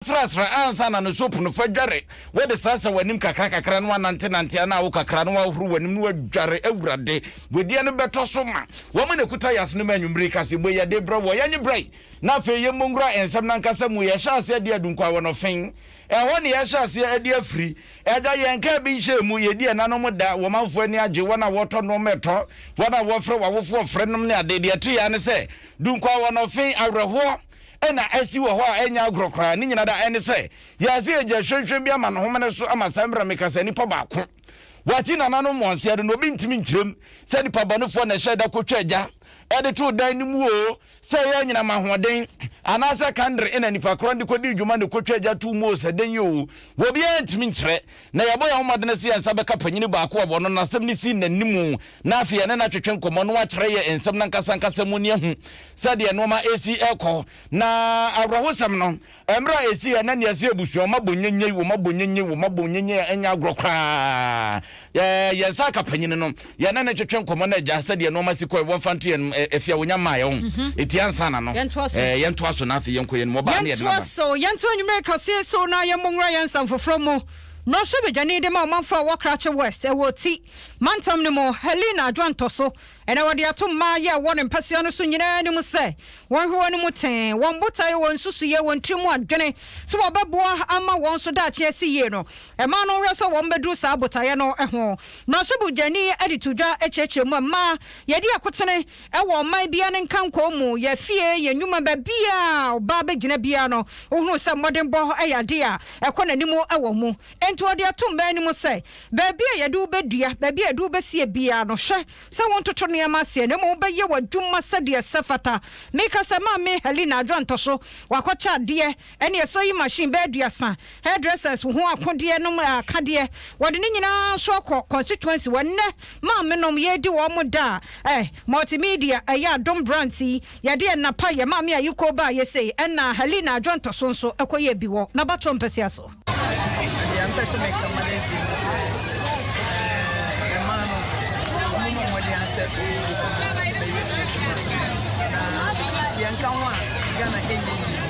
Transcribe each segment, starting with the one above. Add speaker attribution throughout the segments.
Speaker 1: srasra ansa na ne soap no fa dware wode srasra w'anim kakra kakra na wanante nante ana wo kakra na wahoro w'anim na wadware awurade wedeɛ no bɛtɔ so ma wɔn na kuta yɛase no ma anwummere kase bɔ yɛde brɛ wɔ yɛnye brɛ na afei yɛmmɔ nwura nsɛm no ankasa mu yɛhyɛ ase adi adunkwa wɔ nɔfen ɛhɔ ne yɛhyɛ ase adi afiri ɛda yɛn kaa bi nhyɛ mu yɛdi ɛnanom da wɔn manfoɔ ani agye wɔn a wɔtɔ nnoɔma ɛtɔ wɔn a wɔfrɛ wɔawofoɔ frɛ nom ne ade deɛ ɛto yɛa ne sɛ dunkwa wɔ nɔfen awerɛhoɔ na asi wɔ hɔ a ɛnyɛ agorɔ koraa, ne nyina da ɛne sɛ yɛase agya hwɛnhwɛn bi ama no homene so ama saa mmra meka sɛ nipa baako wati nananom moanseɛ do na obi ntimi nkyerɛm sɛ nipa bɔnefoɔ na ɛhyɛ da kɔtwa agya ɛde too dan no mu oo sɛ ɛyɛ anyinam ahoɔden anaasɛ kandre ɛna nipa korɔ no de kɔdii dwuma na ɛkɔtwa agya too mu oo sɛ dɛn oo wɔbiaa ntimi nkyerɛ Na yɛabɔ yɛn ho mmɔden sɛ yɛn nsa bɛka panyin baako a wɔno n'asɛm no si n'anim na afei yɛne no atwetwe nkɔmmɔ na wakyerɛ yɛn nsɛm no ankasa ankasa mu ne ahu sɛdeɛ nnoɔma resi rekɔ. Na awerɛhosɛm no, mmerɛ a ɛsiiɛ na nea ɛsɛ abusua, wɔn abɔ nyennyei, wɔn abɔ nyennyei, wɔn abɔ nyennyei a ɛnyɛ agorɔ koraa, yɛn nsa aka panyin no. yɛne no twetwe nkɔmmɔ na agya sɛdeɛ nnoɔma si kɔɛ wɔmfa nto yɛn afie a wɔnya mmaeɛ ho ɛti ansa na no yɛntoa so na afei yɛnkɔ yɛn mu ɔbaa ne yɛde naba so yɛnto anwumerɛ
Speaker 2: kaseɛ so na yɛmmɔ nwura yɛn nsɛm foforɔ mu mmarahyɛ badwani de ma ɔmanfo a ɛwɔ krakye west ɛwɔ ti mantam no mu helena adwoantɔ so ɛna wɔde ato mmaa yɛ ɛwɔ ne mpasua no so nyinaa no mu sɛ wɔnhwɛ wɔn no mu tee wɔn botaeɛ wɔn nsusuiɛ wɔn tiri mu adwene sɛ wɔbɛboa ama wɔn so daakye asi yie no Ɛmaa no werɛ sɛ wɔbɛduru saa botaeɛ no ho. Mmarahyɛ Badwani de too dwa kyerɛkyerɛ mu a, mma yɛdi akotene wɔ ɔman biara ne nkankɔɔ mu, yɛn afie, yɛn nnwuma, baabiara a ɔbaa bɛgyina biara no, wohunu sɛ mmɔdenbɔ yɛ adeɛ a ɛkɔ n'anim wɔ mu. Enti wɔde ato mmaa no mu sɛ, baabi a yɛde wo bɛdua, baabi a yɛde wo bɛsie biara no, hwɛ sɛ wontoto nneɛma aseɛ na mmom wobɛyɛ w'adwuma sɛdeɛ ɛsɛ fata. Mekasa maa me Helena Adwoantɔ so, wakɔkyɛ adeɛ Ɛne sewing machine bɛyɛ aduasa, hairdressers ho akodeɛ nom akadeɛ, wɔde ne nyinaa nso akɔ constituency hɔ. Nnɛ maamenom yɛredi wɔn da a, eh, multimedia, ɛyɛ adom brands yi, yɛde yɛn nna pa yɛ maame a yikoo baa yɛ sei, ɛna Helena Adwontɔso nso kɔ yɛɛ bi wɔ n'abatoɔ mpasua so. Deɛ mpɛ
Speaker 3: sɛ mɛka Mother's Day no sɛ, eh, ɛmaa no, wɔn mo mmɔden asɛ bɛyɛ adwuma na sɛ yɛnka ho a Ghana ɛnyɛ yie.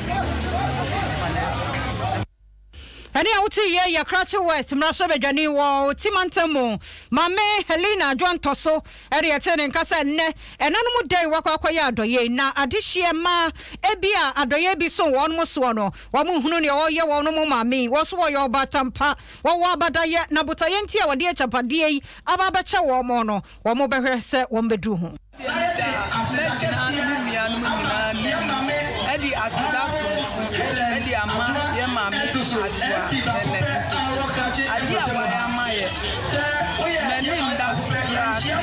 Speaker 2: ɛne a wote yɛ yɛ krakye west mmarahyɛ badwani wɔ ɔti mantam mu maame helena adwoantɔ so ɛde ɛte ne nka sɛ nnɛ ɛnanom da yi wakɔ akɔyɛ adɔyɛ na adehyeɛ ma ebi a adɔyɛ bi so wɔn mo soɔ no wɔn nhunu nea ɔyɛ wɔn mo maame wɔn so wɔyɛ ɔbatampa wɔwɔ abadayɛ na botaeɛ nti a wɔde akyapadeɛ yi aba abɛkyɛ wɔn mo no wɔn bɛhwɛ sɛ wɔn bɛduru ho Meda m'agyanom ne me nuanom nyinaa anim de aseda soronko de ama yɛn Maame Adwoa Helen Nkosi. Ade a wayɛ ama yɛn, m'ani nna so koraa sɛ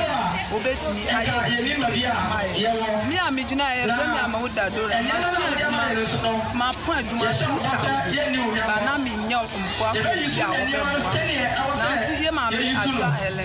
Speaker 2: obetumi ayɛ biribi sɛɛ ama yɛn. Me a migyina ha yi, wɔfrɛ me Amao Dadora. Masua adwuma, mapɔn adwuma 2000, but na minnya mmoa kɔkɔɔ bi a wɔbɛboa me. Nanso yɛn Maame Adwoa Helen.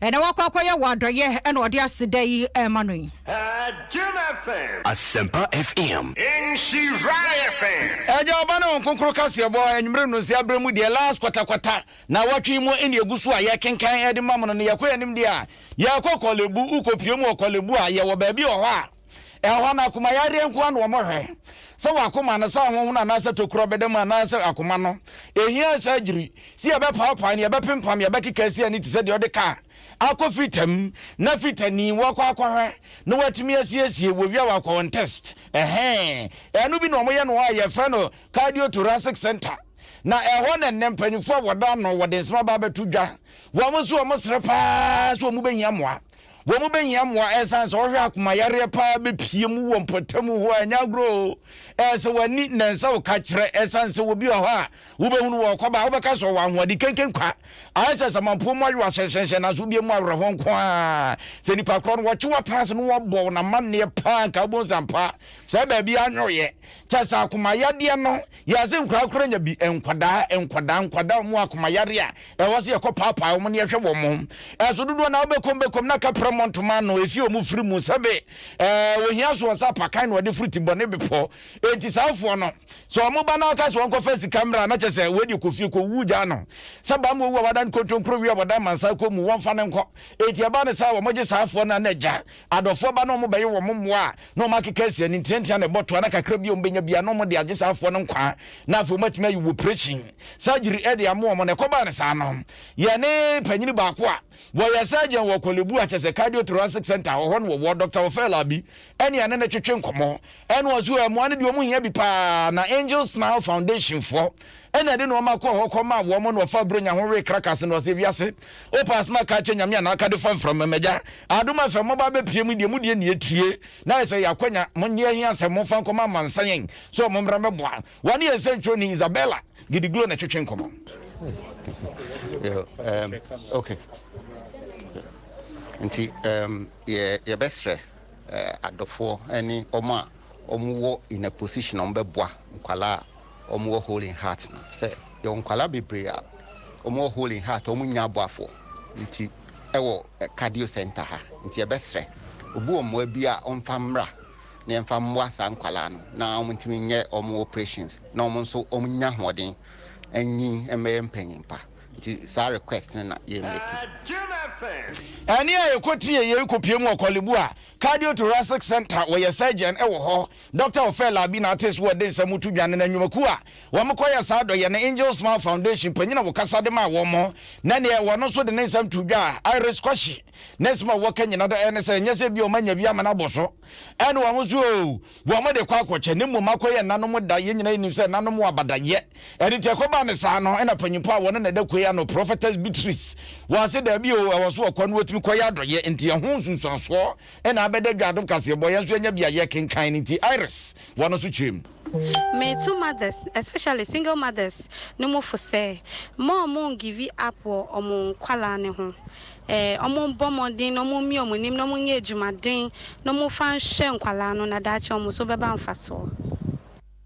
Speaker 2: Ɛnɛ wakɔ akɔyɛ wo adɔyɛ ɛna ɔde aseda yi rema no yi. Adum
Speaker 4: FM. Asempa FM. Nhyira FM. Agya, Ɔba ne Honhom Kronkron
Speaker 1: kaseɛbɔ, anwummere nnɔnsia berɛ mu deɛ, last kwatakwata, nawɔtwe yi mu ɛne ɛgu so a yɛkenkan ɛde ma mo no, na yɛkɔ yɛn anim deɛ a, yɛkɔ Korle Bu, wokɔ pue mu wɔ Korle Bu a, yɛwɔ baabi wɔ hɔ a, Ɛhɔ no, akoma yareɛ nko ara na wɔhwɛ, sɛ w'akoma no, sɛ ahonhon anaasɛ tokuro bɛda mu anaasɛ akoma no. Ɛhia surgery, sɛ yɛbɛpaapae no, yɛbɛpempam, yɛbɛkeka asi ani te sɛ deɛ wode kaa akɔ fita mu, na fita ni, woakɔ akɔhwɛ, na woatumi asiesie, wɔwie a wɔakɔ wɔn test. Ɛhɛɛ, ɛno bi na wɔyɛ no hɔ a yɛfrɛ no cardiothoracic centre. Na ɛhɔ na nnɛ mpanyinfoɔ a wɔda ano, wɔde nsɛm aba abɛto dwa, wɔn nso wɔsrɛ paa sɛ wɔbɛhia mmoa. Wɔbɛhia mmoa ɛsiane sɛ wɔhwɛ akoma yareɛ paa bɛpie mu wɔ mpɔtamu hɔ a ɛnyɛ agorɔ o. Ɛyɛ sɛ w'ani na nsa wo ka kyerɛ ɛsiane sɛ wɔbi wɔ hɔ a wobɛhunu wɔ ɔkɔba a wobɛka sɛ ɔwɔ ahoɔden kenken kwa. Ayɛ sɛ samanpuo mu ayowa hyɛnhyɛnhyɛn nanso wobie mu awerɛhoɔ nko a. Sɛ nipa korɔ no wɔkye w'atena ase na wɔbɔ wo namanneɛ paa nka wobɛhu sɛ ampa saa baabi anyoyɛ kyɛ sɛ akoma yadeɛ no Yɛse nkwadaa koro anya bi, nkwadaa, nkwadaa, nkwadaa wɔn akoma yare a ɛwɔ sɛ yɛkɔ paapaa wɔn ne yɛhwɛ wɔn. Ɛso dodoɔ na wobɛkɔm bɛkɔm na ka pira mmɔ ntoma ano ɛsi wɔn firi mu sɛbe ɛɛ ohia so wɔn sɛ apakan na wɔde firi ti bɔne bepɔ. Enti saa foɔ no sɛ wɔn ba na wɔka sɛ wɔn kɔfa sika mmra na kyɛ sɛ wei deɛ kɔfie kɔwu gyaa no sɛ baa mu owu a wadan kontonkuro wie a wɔdan mansa kɔ mu wɔmfa no nkɔ. Enti ɛba ne saa wɔn gye saa foɔ no a na agya adɔfoɔ ba na wɔn bɛyɛ wɔn mmoa a na wɔn akeka asi ani ntiantia na ɛbɔ toa na kakra bi a wɔn bɛnya bia na wɔn de agye saa afoɔ no nkwa na afei wɔn atumi ayi wɔ operation surgery ɛde amoa wɔn na ɛkɔbaa no saa no yɛne panyini baako a wɔyɛ surgeon wɔ kɔlebu akyɛsɛ cardiothoracic center ɔhɔ no wɔwɔ dr ofela bi ɛne ɛne ne twetwe nkɔmɔ ɛne ɔso ɛmoa no deɛ wɔn hia bi paa na angel smile foundation foɔ ɛna ɛde nnoɔma kɔɔ hɔ kɔmaa wɔn na wɔfa Buronya ho wee krakas na wɔsɛ wiase wopɛ asɛm a ka kyɛ Nyame anaa ka de fa mframa magya adom afɛ mɔba abɛpie mu deɛ mu deɛ nea ɛtie na ayɛ sɛ yɛakwanya monyɛ ahia sɛ momfa nkɔma amansa yɛn sɛ ɔmo mmra mɛboa wɔne yɛn sɛntwerɛni Isabella Gidiglo na ɛtwetwe nkɔmmɔ Yeah,
Speaker 5: um, okay. nti um, yɛbɛsrɛ uh, adɔfoɔ ne ɔmo a ɔmo wɔ in a position ɔmo bɛboa nkwalaa wɔwɔ hole in heart no sɛ yɛwɔ nkwadaa bebree a wɔwɔ hole in heart wɔn nya aboafoɔ nti ɛwɔ cardio center ha nti yɛbɛsrɛ obi wɔ mmoa bi a ɔmfa mmra na yɛmfa mmoa saa nkwadaa no na wɔn ntumi nyɛ wɔn operations na wɔn nso wɔn nya hoɔden anyi mmɛyɛ mpanyinpa nti saa request no na yɛn mɛki.
Speaker 1: Ɛne a yɛkɔ tie yɛn kɔ pie mu wɔ Korle Bu a cardio thoracic center wɔyɛ surgeon ɛwɔ hɔ Dɔkta Ofer Larbi na Artis Ward de nsɛm to dwa, na na nnwumakuw a wɔkɔyɛ saa adɔyɛ no Angel Smile Foundation panyin a ɔkasa de maa wɔn, na nea ɔno nso de ne nsɛm too dwa a Iris Kwasi, ne nsɛm a wɔka nyinaa ne sɛ ɛnyɛ sɛ ebia wɔanya bi ama no abɔ so ne wɔn ho so oo, wɔde kɔ akɔkyɛ, na mmom akɔyɛ ɛnanom da, yɛn nyinaa nim sɛ ɛnanom wɔ abadayɛ, ɛno nti ɛkɔbaa no saa no na panyin pa a wɔne no ɛda kue ano, Prophetess Beatrice, wɔ ase daabi oo, ɛwɔ so ɔkɔ na otumi kɔyɛ adɔyɛ, enti ɛho nsunsuansoɔ. Ɛna abɛda dwa adom kaseɛbɔ yɛn nso yɛnya bi a yɛkenkan no nti Iris wɔ no so kyerɛ mu. Metu
Speaker 6: mothers especially single mothers no mu fo sɛ mma ɔmo ngivi up wɔ ɔmo nkwadaa no ho. Ɛɛ ɔmo mbɔ mmɔden na ɔmo mmie ɔmo anim na ɔmo nyɛ adwumaden na ɔmo nfa nhwɛ nkwadaa no na daakye ɔmo so bɛba mfasoɔ.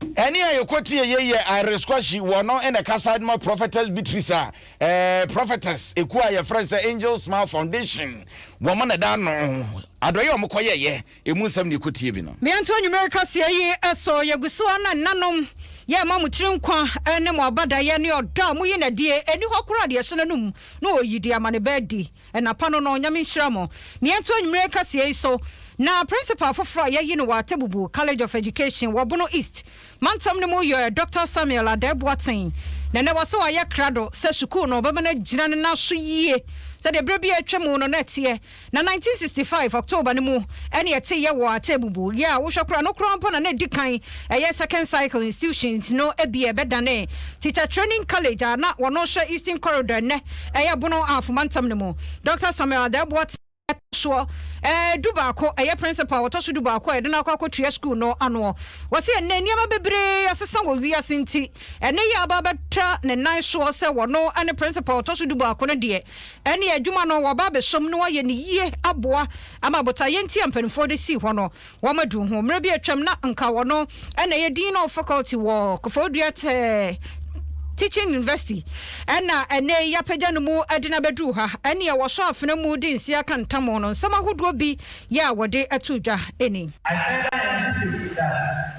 Speaker 1: Ɛne a yɛkɔtie yei yɛ Iris Kwashi, wɔ no na ɛkasa de ma Prophetess Beatrice a ɛɛ Prophetess ɛkuo a yɛfrɛ sɛ Angel Smile Foundation wɔn na ɛda ano. Adɔeɛ a wɔn kɔ yɛɛyɛ ɛmu nsɛm na yɛkɔtie bi no. Me nto anwummere kaseɛ
Speaker 2: yi so, yɛgu so ara na nnanom yɛ ma mo tiri nkwa ne mo abadaeɛ ne ɔdɔ a moyi no adie, ɛni hɔ koraa deɛ ɛhyɛ n'anom na ɔyi de ama ne ba adi. Anapa no no, Nyame nhyira mo. Na yɛnto anwumerɛ kaseɛ yi so. Na Principal foforɔ a yɛayi no wɔ Atebubu College of Education wɔ Bono East mantam no mu yɛ Doctor Samuel Adah Boateng. Na nnɛ wɔ sɛ wayɛ krado sɛ sukuu no bɛma no agyina ne nan so yie sɛdeɛ berɛ bi a atwa mu no na ɛteɛ. Na 1965 October no mu ɛne ɛteeɛ wɔ Atebubu. Yɛ a wohwɛ koraa no koraa mpo na na ɛdi kan Ɛyɛ Second Cycle Institutions no bi a ɛbɛdanee Teacher Training College a na wɔn hyɛ Eastern Corridor ɛnnɛ ɛyɛ Bono Ahafo Mantam no mu. Dɔkta Samuel Adah Boateng a ɛtɔ soɔ du baako ɛyɛ Principal a ɔtɔ so du baako a yɛde no akɔ akɔtua sukuu no anoɔ. Ɔse ɛnnɛ nneɛma bebree asesa wɔ wiase nti ɛne yɛ aba abɛtra ne nan soɔ sɛ wɔno ne Principal a ɔtɔ so du baako no deɛ ɛneɛ adwuma no wɔaba abɛsom na wɔayɛ no yie aboa ama botaeɛ nti a mpaninfoɔ de sii hɔ no Wɔadu ho. Mmerɛ bi a atwam na nka wɔno na ɛyɛ Dean of Faculty wɔ Kofoɔ Dua Teaching University ɛna ɛnɛ yi apagya no mu de no abɛduru ha. Ɛne a wɔsɔ afena mu de nsi aka ntamo no nsɛm ahodoɔ bi yɛ a wɔde to dwa ni. I further emphasize
Speaker 7: that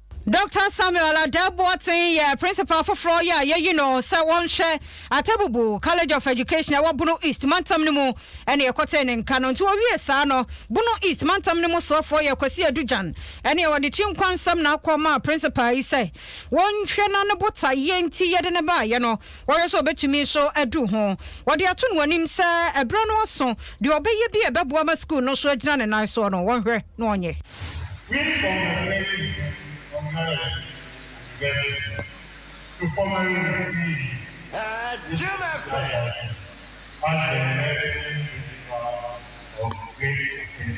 Speaker 2: Dɔkta Samuel Adah Boateng yɛ Principal foforɔ yi a yɛayi no sɛ ɔnhwɛ Atabubu College of Education a ɛwɔ Bono East mantam no mu ɛna yɛkɔtee ne nka no nti ɔwiee saa no Bono East mantam no mu soafoɔ yɛ Kwasi Adu Gyan ɛna ɔde Kyinkwansɛm na akɔ maa Principal yi sɛ wɔnhwɛ no a ne botaeɛ nti yɛde no baeɛ no Wɔhwɛ sɛ obetumi nso adu ho. Wɔde ato no anim sɛ ɛberɛ no aso, deɛ ɔbɛyɛ bi a ɛbɛboa ma sukuu no nso agyina ne nan soɔ no, wɔnhwɛ na ɔnyɛ. Win from the Plenty Ɔkaeɛ,
Speaker 7: University, to formerly received Jim
Speaker 4: Efe. As
Speaker 7: a Nursing Principal of Great Ocean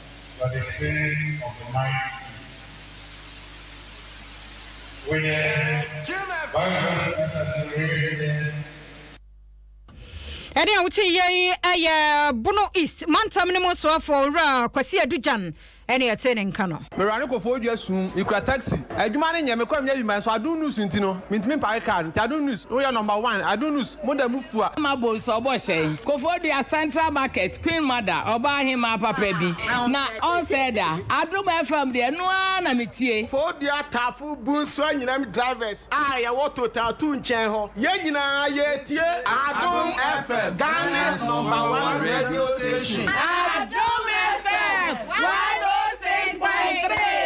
Speaker 7: but the feeling of the mind too. With the Bible as an
Speaker 2: enrichment. ɛne a wote yɛ yi ɛyɛ bono east mantam no mu soafoɔ owura kwasi adugyan ɛne ɛte ne nka no Mewura no kɔfɔ odua sum,
Speaker 8: mekura taxi. Adwuma no nyɛ, mekɔ a menya bi ma nso Adom News nti no, mentumi mpake car no. Nti Adom News, woyɛ number one, Adom News. mo da mo fua. Ama bɔ nsu ɔbɔ hyɛn.
Speaker 9: Kofoɔ dua central market queen mother ɔbaa ahemaa papa bi na ɔnsɛe da adom FM deɛ ɛno ara na me tie. Foɔ dua tafo
Speaker 10: bunsu anyinam drivers a yɛwɔ total two nkyɛn hɔ yɛn nyinaa yɛtie adom FM Ghana's number one radio
Speaker 9: station. Adom FM one oh six point three.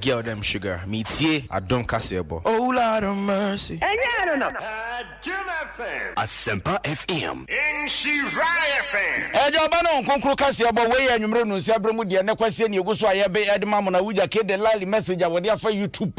Speaker 11: Girl
Speaker 12: dem sugar me tie adom kaseɛ
Speaker 11: bɔ.
Speaker 12: Oh Lord of mercy.
Speaker 4: Ɛnyɛ ɛno no.
Speaker 7: Adom
Speaker 4: FM. Asempa FM. Nhyira FM. Agya ɔba ne wɔn kronkron
Speaker 1: kaseɛ bɔ wei yɛ anwummerɛ nunsia berɛ mu deɛ ne kwaseɛ ne ɛgu so a yɛbe ɛde ma mo no awogya kede lali message a wɔde afa youtube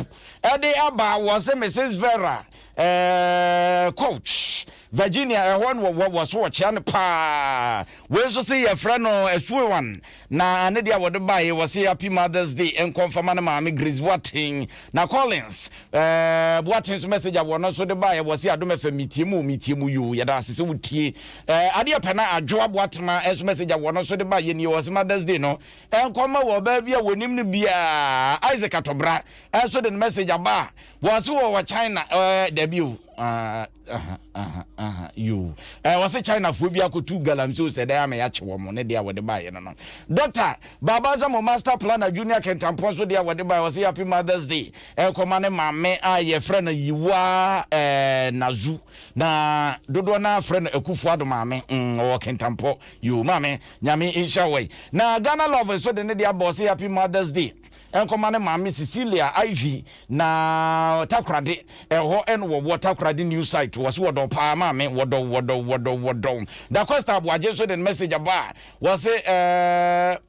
Speaker 1: ɛde aba wɔse Mrs Vera eh, Coach Virginia ɛhɔ no wɔ wɔ so wɔkyea no paa wei nso se yɛfrɛ no asuowan na ne deɛ wɔde baeɛ wɔ se happy mothers day nkɔ mfama no maame Grace Boaten na Collins ɛɛ eh, Boaten nso message a wɔn nso de baeɛ wɔ se adom fm metie mu metie mu yoo yɛda ase sɛ wotie ɛɛ eh, adeɛ pɛ na adwoa Boatema nso message a wɔn nso de baeɛ nie wɔ se mothers day no nkɔ ma wɔ ɔbaa bi a wɔnim no biara Isaac Atɔbra nso de no message aba wɔ se wɔ wɔ China ɛɛ eh, dabi o ɛɛ aha aha aha yoo ɛɛ eh, wɔsɛ chinafoɔ bi akɔtu galamsey o sɛ dɛn ama yɛakye wɔ mo ne deɛ a wɔde baeɛ no no dɔkta baaba nsɛ mo master planner junior kɛntampɔn so deɛ a wɔde baeɛ wɔsɛ happy mothers day ɛkɔma eh, ne maame a yɛfrɛ no yiwa ɛɛ eh, nazu na dodoɔ no afrɛ no akufoɔ ado maame mm, ɔwɔ kɛntampɔ yoo maame nyame nhyɛ wɔ yi na ghana love so de ne deɛ abɔ sɛ happy mothers day Ɛnkɔma ne maame Cecilia Ivy na Takoradi ɛhɔ ɛna wɔwɔ Takoradi new site wɔsi wɔdɔw paa maame wɔdɔw wɔdɔw wɔdɔw wɔdɔw Dacosta Aboagye nso de ne message aba a wɔsi ɛɛ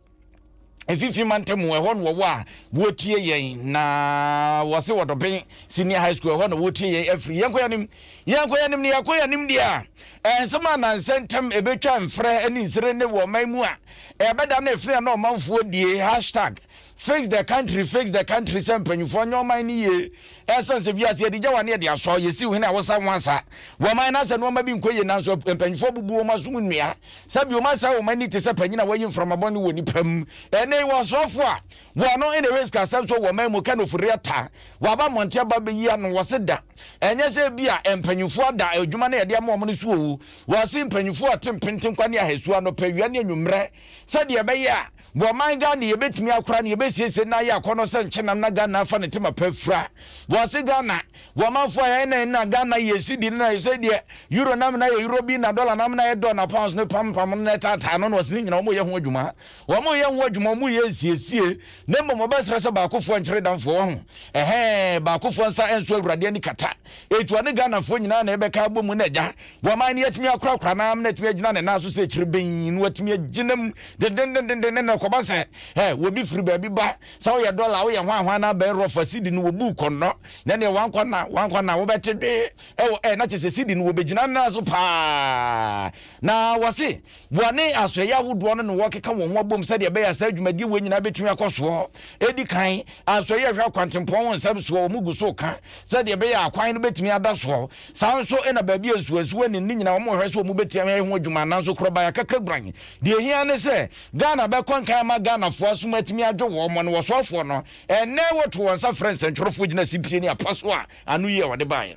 Speaker 1: mfimfini mantamu ɛhɔ na wɔwɔ a wɔtie yɛn na wɔsi wɔdɔben senior high school ɛhɔ na wɔtie yɛn afiri yɛn kɔyɛ nim yɛn kɔyɛ nim ne yɛn kɔyɛ nim deɛ a nsɛm a nansɛntɛm ebetwa mfrɛ ne nsere ne wɔ ɔman mu a Ɛbɛda no ɛfiri a na ɔmanfoɔ die hashtag FixTheCountry FixTheCountry sɛ mpanyinfoɔ nyɛ ɔman no yie ɛsiane sɛ wiase yɛde gyawa ne yɛde asɔ yɛsiw hene a wɔsa ho ansa wɔ ɔman no asɛ nnoɔma bi nkɔ yie nanso mpanyinfoɔ abubu wɔn asom nnua sɛbi wɔn asɛe wɔn ani te sɛ panyin a wayi mframa bɔne wɔ nipa mu ɛnɛ yi wɔsoɔfoɔ a wɔn no ɛna ɛhwɛ sikasɛm so wɔ ɔman mu kɛ no ofori ata waba mmɔnten aba bɛyi ano wɔse da ɛnyɛ sɛ bi a mpanyinfoɔ ada adwuma no yɛde ama wɔn no so owu Wɔase mpanyimfoɔ a tempentten kwa ne ahasu anɔpa awia ne anwummerɛ sɛdeɛ ɛbɛyɛ a wɔ ɔman Ghana yɛbɛtumi akora no yɛbɛsiesie na ayɛ akɔnɔ sɛ nkyenam na Ghana afa ne tema pa afira. Wɔase Ghana wɔ ɔmanfoɔ a yɛn na yɛn na Ghana yɛ cedi no na ayɛ sɛdeɛ Euro nam na ayɛ Euro bi na Dollar nam na ayɛ Dɔ na Pounds no pam pam no na ɛtaataa no na wɔase ne nyinaa wɔyɛ ho adwuma wɔn yɛ ho adwuma wɔn yɛ nsiesie na mmom wɔbɛsrɛ sɛ baakofoɔ nkyere damfoɔ wahu ɛhɛɛ baakofoɔ nsa ɛnso Awurade ani kata ɛtua ne Ghanafoɔ nyinaa na yɛbɛka abɔ mu na agya Guaman no atumi akorakora n'ano na atumi agyina ne nan so sɛ akyiri benn na watumi agyina mu dendendenden na ɛkɔba sɛ ɛ wɔbi firi baabi ba sɛ woyɛ dɔla woyɛ hwanhwan na abɛn rɔfa sidi no wɔbu kɔnnɔ na neɛ wankɔ na wankɔ na wobɛte dwe ɛwɔ ɛ na kyɛ sɛ sidi no wɔbɛgyina nan so paa na wɔse Boa ne asoɛeɛ ahodoɔ no na wɔkeka wɔn ho abom sɛdeɛ ɛbɛyɛ a saa dwumadie wei nyinaa bɛtumi akɔ soɔ. Ɛdi kan, asoɛeɛ a ɛhwɛ akwantempɔn ho nsɛm soɔ, wɔn gu so ka sɛdeɛ ɛbɛyɛ a akwan no bɛtumi ada soɔ. Saa nso na baabi a nsuwansuwa nni no ne nyinaa wɔhwɛ sɛ wɔbɛtumi ho adwuma. Nanso korɔbae akakra guran. Deɛ ɛhia ne sɛ Ghana bɛkɔ nkan ama Ghanafoɔ asom atumi adwo wɔn mo ne wɔsoafoɔ no. Ɛnnɛ wɔto wɔn nsa frɛ nsɛntwerɛfoɔ gyina sipie ne apa so a ano yie a wɔde baeɛ.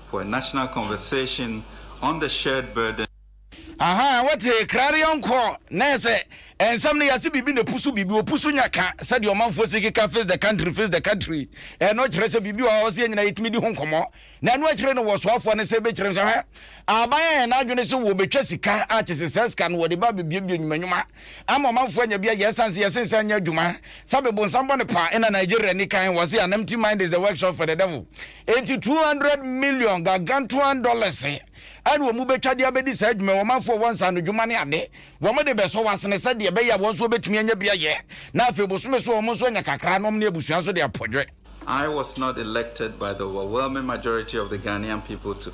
Speaker 12: for a national conversation on the shared burden. Ahaa wote
Speaker 1: Clarion kɔ na ɛsɛ nsɛm no yɛse biribi na pusu biribi opusu nya ka sɛdeɛ ɔmanfoɔ si keka face the country face the country ɛno kyerɛ sɛ biribi wɔ hɔ sɛ yɛnyina yɛtumi di ho nkɔmmɔ na ɛno akyire no wɔsoafoɔ no sɛ bɛkyerɛ sɛ hwɛ aban a yɛn adwene sɛ wɔbɛtwa sika akyese sɛ sika no wɔde ba bɛbiabia nnwumanwuma ama ɔmanfoɔ anya bi ayɛ ɛsiane sɛ yɛsee sɛ anyɛ adwuma sɛ abe bonsam bɔne pa na Nigeria ni kan wɔse an empty mind is the workshop for the devil enti 200 million gargantuan dollars ɛne wɔn bɛtwa de abɛdi saa adwuma wɔn manfoɔ wɔ nsa no dwuma ne ade wɔn de bɛsɔ wɔasene sɛ deɛ ɛbɛyɛ a wɔn nso wɔbɛtumi anya bi ayɛ na afei bosome so wɔn nso anya kakra nom ne abusua nso de apɔdwe I was not
Speaker 12: elected by the overwhelming majority of the Ghanaian people to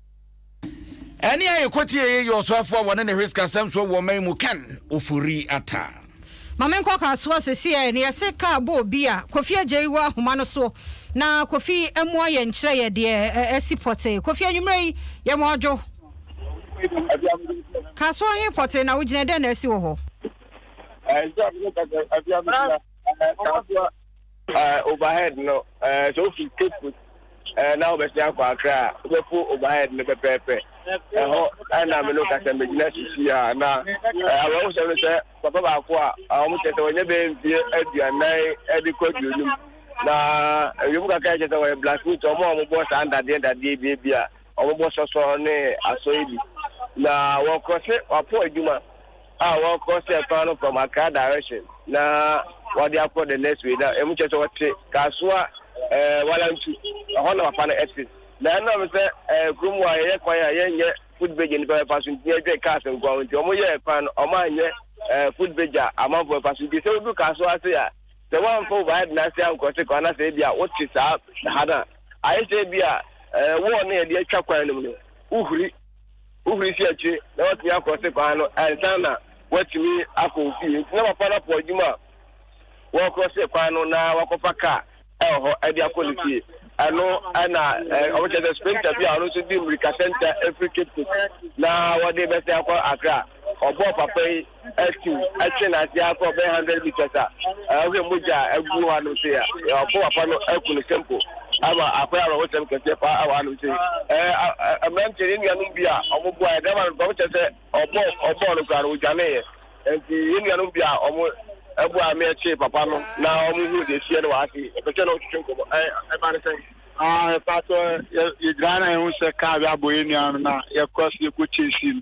Speaker 1: ɛne a yɛkɔtie yɛ yɛ ɔsoafo a wɔne ne hweskasɛm soɔ wɔ ɔma yi mu ken ofori ata mame nkɔ kaa
Speaker 2: soɔ seseɛ ne yɛse kaa bɔ obi a kofi agya yi wɔ ahoma no soɔ na kofi mua yɛ nkyerɛ yɛ deɛ ɛsi pɔtee kofi anwummerɛ yi yɛ mu ɔdwo kaa soɔ he pɔtee na wogyina dɛn na ɛsi wɔ hɔ
Speaker 13: Eh, overhead no, eh, sɛ wofi Cape Coast eh, na wobɛsen akɔ Accra a, wobɛpo overhead no pɛpɛɛpɛ. Ɛhɔ eh, na me no ka sɛ megyina sisi a na eh, awerɛhosɛm no sɛ papa baako a ah, wɔn kyerɛ sɛ wɔnyɛ bɛyɛ mfie aduanan de kɔ aduonum na ewiem kakra kyerɛ sɛ wɔyɛ blacksmith, wɔn a wɔbɔ saa ndadeɛ ndadeɛ bi bi a wɔbɔ sɔsɔ ne asɔe bi na wɔkorɔ se wɔapɔ adwuma a wɔkɔ sɛ kwan no from Accra direction na wɔde akɔ the next way na ɛmu kyerɛ sɛ wɔte Kasoa ɛɛ Walantu ɛhɔ na papa no ɛte na ɛnam sɛ ɛɛ kurom a yɛyɛ kwan a yɛnyɛ footbridge a nipa bɛfa so nti yɛdwe cars nkoa ho nti wɔn yɛ kwan no wɔn anyɛ ɛɛ footbridge a amanfo bɛfa so nti sɛ wodu Kasoa ase a sɛ wɔamfa overhead na ase ankɔse kwan na sɛ ebi a wote saa ha no a ayɛ sɛ ebi a ɛɛ wɔɔ na yɛde atwa kwan no mu no wohuri Wohuri si akyire na watumi akrɔse kwan no ansa na watumi akɔ ofie. Nti na papa no apo adwuma a wɔkrɔse kwan no na wakɔfa kaa wɔ hɔ de akɔ ne fie. Ɛno na wɔkyerɛ sɛ sprinter bi a ɔno nso di mmirikasɛnta firi Cape Coast na wɔde rebɛsɛn akɔ Accra. Ɔbɔɔ papa yi atu atwe n'ase akɔ bɛyɛ hundred meters a ahwɛ mogya a agu hɔ anom se a ɔko papa no aku no simple ama akɔyɛ awerɛhosɛm kɛseɛ paa a wɔ anom se mmerante ne nuanom bi a ɔmo boa ɛdɛm ano kɔm kyɛ sɛ ɔbɔ ɔbɔɔ no koraa no ɔdwaneeɛ nti yɛ nuanom bi a ɔmo ɛboa me ɛkye papa no na ɔmo hu deɛ ɛsiɛ no wɔ ase ɛpɛkyɛ na ɔtwetwe nkɔmɔ ɛba ne sɛn ɛpatɔ yɛgyina na yɛhu sɛ kaa bi abɔ yɛ nua no na yɛkɔ so yɛkɔ chase no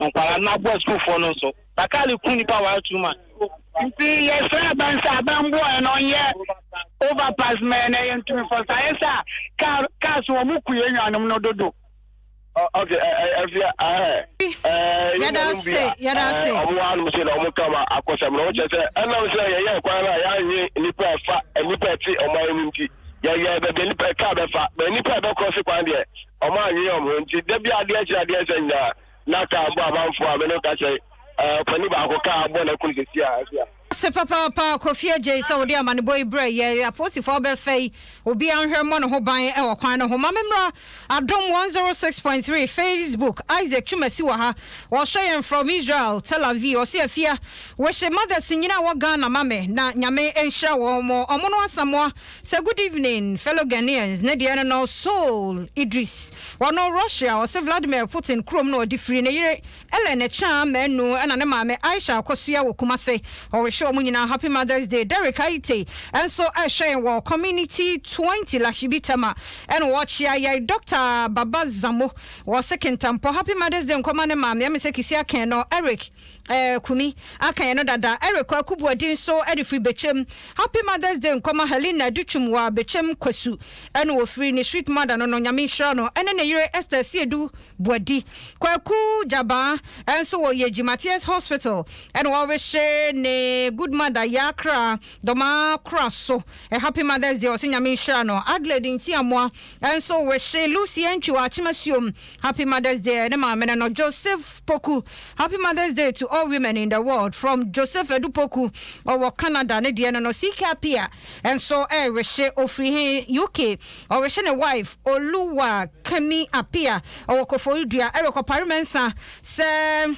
Speaker 13: Nkwadaa no aboa sukuufoɔ no nso. Bakali ku nnipa ware too much. Nti yɛsrɛ aban sɛ aban mboa yɛn na ɔnyɛ over pass ma yɛn na yɛntumi fɔ so ayɛ sɛ car car so wɔn ku yɛn nuanom no dodo. Ok afia ahɛ ɛɛ
Speaker 2: yɛn nuanom bi a ɛɛ wɔn wɔ hanom sei na wɔn
Speaker 13: ka ma akɔsɛm no kyerɛ sɛ ɛnam sɛ yɛyɛɛ kwan no a yɛanwe nnipa ɛfa nnipa ɛte ɔman no nti yɛyɛɛ baabi a nnipa car bɛfa but nnipa ɛbɛkɔse kwan deɛ Wɔannwen wɔn ho, enti da biara adeɛ kye adeɛ resa nyinaa, na kaa bɔ amanfoɔ a me ne wo ka sɛ, Ɛɛ, ɔpanin baako kaa abɔ n'akunu sɛsi a, ɛsi a. Ase papaapa,
Speaker 2: Kofi Adjei, sɛ wode amanebɔ yi brɛɛ yɛn, apolisifoɔ abɛfa yi, obiara nhwɛ mmɔ ne ho ban wɔ kwan no ho. Ma me mmra Adom 106.3 Facebook, Isaac Twumasi wɔ ha, ɔrehwɛ yɛn from Israel, Tel Aviv, ɔse Afia, wehye mothers nyina a ɛwɔ Ghana ma me, na Nyame nhyira wɔn, wɔn no Asamoah Sɛ good evening fellow Ghanaians ne deɛ no no Soul Idris ɔno Russia ɔse Vladimir Putin kurom na ɔde firi ne yere Ellen Akyaa Manu ɛna ne maame Aisha Akosua wɔ Kumase ɔrehwɛ ɔmo nyinaa happy mother's day Derrick Ayite nso ɛrehwɛ yɛn wɔ community twenty Lahyibi Tema ɛna ɔrekyea yɛn Doctor Baba Zamo ɔse Kintampɔ happy mother's day nkɔma ne maame ɛme sɛ Kisi Aken no Eric Eh Kumi, aka yɛn no dada. Eric Kwaku Boadi nso de firi Bekyem. Happy Mother's Day nkɔma Helena Adutwum wɔ Bekyem Kwasu. Ɛna ɔfiri ne sweet mother no no, Nyame nhyira no, ɛne ne yere Esther Asiedu Boadi. Kwaku Gyabaa nso wɔ Yegyi Matthias Hospital ɛna wɔrehye ne good mother Yaa Kraa Dɔmaa Kora so a happy Mother's Day, ɔse Nyame nhyira no. Adelaide Ntiamoa nso rehye Lucy Antwi wɔ Akyem Asuom. Happy Mother's Day ɛne maame no no Joseph Poku Happy Mother's Day to all women in the world from Joseph Adu Poku ɔwɔ Canada ne deɛ no no Sika Apia nso ɛrewehye ɔfiri he UK ɔrewehye ne wife Oluwakemi Apia ɔwɔ Koforidua ɛrekɔpare mɛnsa sɛ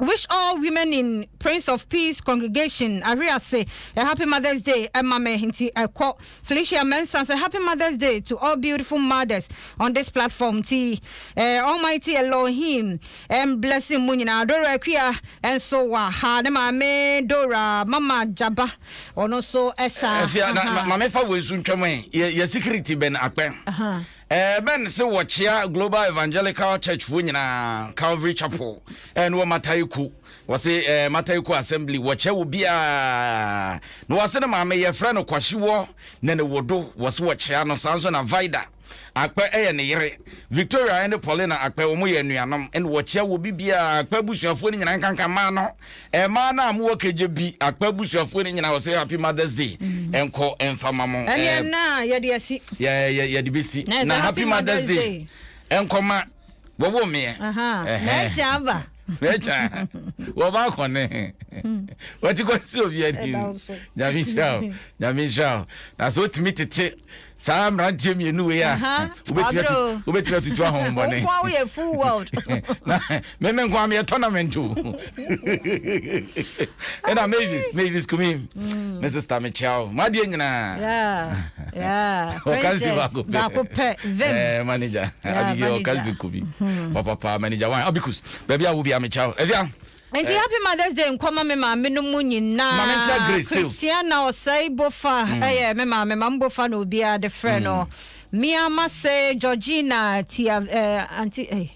Speaker 2: Wish all women in Prince of Peace congregation ahwe ase a happy mother's day ɛma me nti ɛkɔ Felicia Mensah sɛ happy mother's day to all beautiful mothers on this platform nti eh, Almighty Elohim and blessing mu nyinaa Dora Akua nso wɔ ha ne maame Dora mama Jaba ɔno nso ɛsa ɛfia na maame fa wɔ
Speaker 1: esu ntwam ɛ yɛ security bɛn akpɛ Ebɛn se wɔkyea Global Evangelical Churchfoɔ nyinaa, Calvary Chapel, ne wɔ Matayiko. Wɔse Matayiko Assembly wɔkyɛ wɔ biaa. Na wɔse ne maame yɛfrɛ no Kwashiwɔ Nene-Wodo, wɔse wɔkyea no. Saa nso na Vida Akpɛ yɛ ne yere. Victoria ne Paulina Akpɛ, wɔyɛ anuanom, ne wɔkyea wɔ bibiaa. Akpɛ abusuafoɔ no nyinaa nkanka mma no. Ɛmaa no a mo wɔ kɛgye bi akpa abusuafoɔ no nyinaa wɔ sɛ happy mother's day nkɔ mfa ma mo ɛneɛ eh,
Speaker 2: na yɛde asi yɛ yɛ yɛde bɛsi
Speaker 1: na na happy mother's day nkɔ ma wɔwɔ meɛ na ɛkyɛ
Speaker 2: aba na ɛkyɛ
Speaker 1: wɔba akɔne wɔte kɔ sɛ obi ani nyame nhyira o nyame nhyira o na sɛ wotumi tete saa mmeranteɛ mmienu wei a wobɛtumi atutu ahohommɔne
Speaker 2: meme
Speaker 1: nko a meyɛ tournament o ɛna mavis mavis kumi mm. me sister mekyea wo madeɛ nyinaa
Speaker 2: ɔkansi
Speaker 1: baako pɛ
Speaker 2: eh, manager abigail
Speaker 1: ɔkansi kumi hmm. papapa manager wan abikus baabi a wobia mekyea wo ɛdea Enti Happy Mother's
Speaker 2: Day nkɔ ma me maame no mu nyinaa. Mame nkyea Grace sales.
Speaker 1: Christiana Osei
Speaker 2: Bofa yɛ me maame, Mam Bofa na obiara de frɛ no. Mia Mase, Georgina, Tia eh, Auntie eh,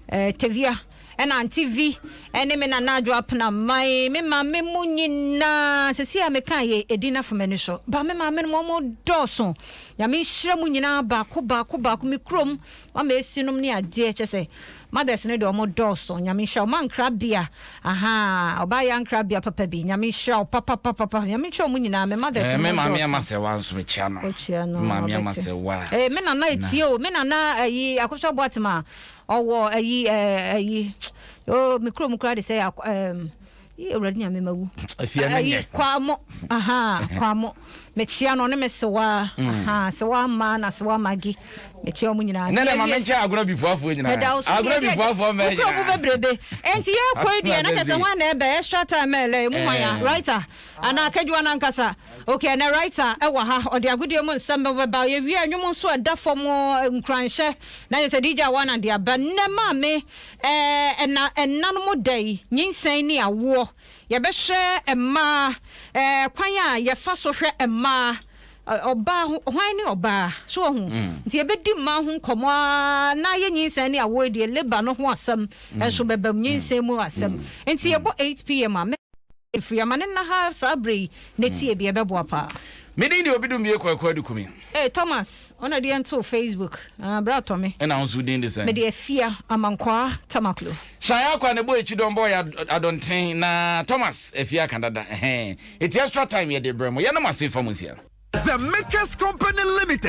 Speaker 2: eh, Tavia, ɛna Auntie Vi, ɛne me Nana Adwo Apenaman, me maame mu nyinaa. Sɛsi a meka yɛ edin afa m'ani so, ba me maame no mu ɔmo dɔɔso. Nyame nhyira mu nyinaa baako baako baako, me kurom, wama esi nom ne adeɛ, kyɛ sɛ Mothers no deɛ ɔmo dɔɔso nyame nhyira wo mankrabea ahaa ɔbaa yɛ ankrabea papa bi nyame nhyira wo papapapapa nyame nkyira ɔmo nyinaa me mothers no mo dɔɔso. Ɛɛ me maame ama sɛ wa
Speaker 1: nso kyia no wokyia no me maame ama ɔbɛte sɛ wa ee me nana etie
Speaker 2: o me nana ayi akosua boatem a ɔwɔ ayi ɛɛ ayi oo me kuro mu koraa de sɛ ɛɛ. yi awurade nya
Speaker 1: mema wu
Speaker 2: afia no nyɛ kwamo
Speaker 1: aha
Speaker 2: kwamo mekyia no ne me sewa mm. aha sewa ma na sewa magi mekyia ɔmo nyinaa ne ne ma menkyɛ agorɔ
Speaker 1: bifuafoɔ nyinaa meda wo so agorɔ bifuafoɔ mɛ nyinaa wokura bebrebe
Speaker 2: enti yɛ kɔ yi deɛ na kyɛ sɛ ho ana ɛbɛ extra time ɛlɛ mu hwan ya writer anaa kadwa no ankasa Ok ɛnɛ writer ɛwɔ ha ɔde agodie mu nsɛm bɛ bɛba yɛwie a nnwom nso ɛda fam nkuranhyɛ na yɛ sɛ DJ Awana de aba nnɛ maame ɛɛ ɛna ɛna no mo da yi nyinsɛn ne awoɔ yɛbɛhwɛ mmaa ɛɛ kwan a yɛfa so hwɛ mmaa ɔbaa ho hwan ne ɔbaa so wɔ ho nti yɛbɛdi mmaa ho nkɔmɔ aa na ayɛ nyinsɛn ne awoɔ deɛ labour no ho asɛm ɛnso bɛbam nyinsɛn mu asɛm nti yɛbɔ 8pm a Efiri ama ne nna ha saa berɛ yi na tie bi ɛbɛboa paa. Me din de Obidumie
Speaker 1: Kwaku Adukumi. Ee Thomas
Speaker 2: ɔna de yɛn too Facebook ah bra tɔ me. Ɛna wo nso wo din de sɛn? Me de
Speaker 1: Afia
Speaker 2: Amankwaa Tamaklo. Shine Akwa na ɛbɔ
Speaker 1: akyi dɔn bɔ yɛ adɔnten na Thomas Afia ka dada ɛhɛn eti extra time
Speaker 4: yɛde
Speaker 1: brɛ mo yɛnam ase fa
Speaker 4: mo
Speaker 1: nsia.
Speaker 4: The
Speaker 1: Makers Company Limited.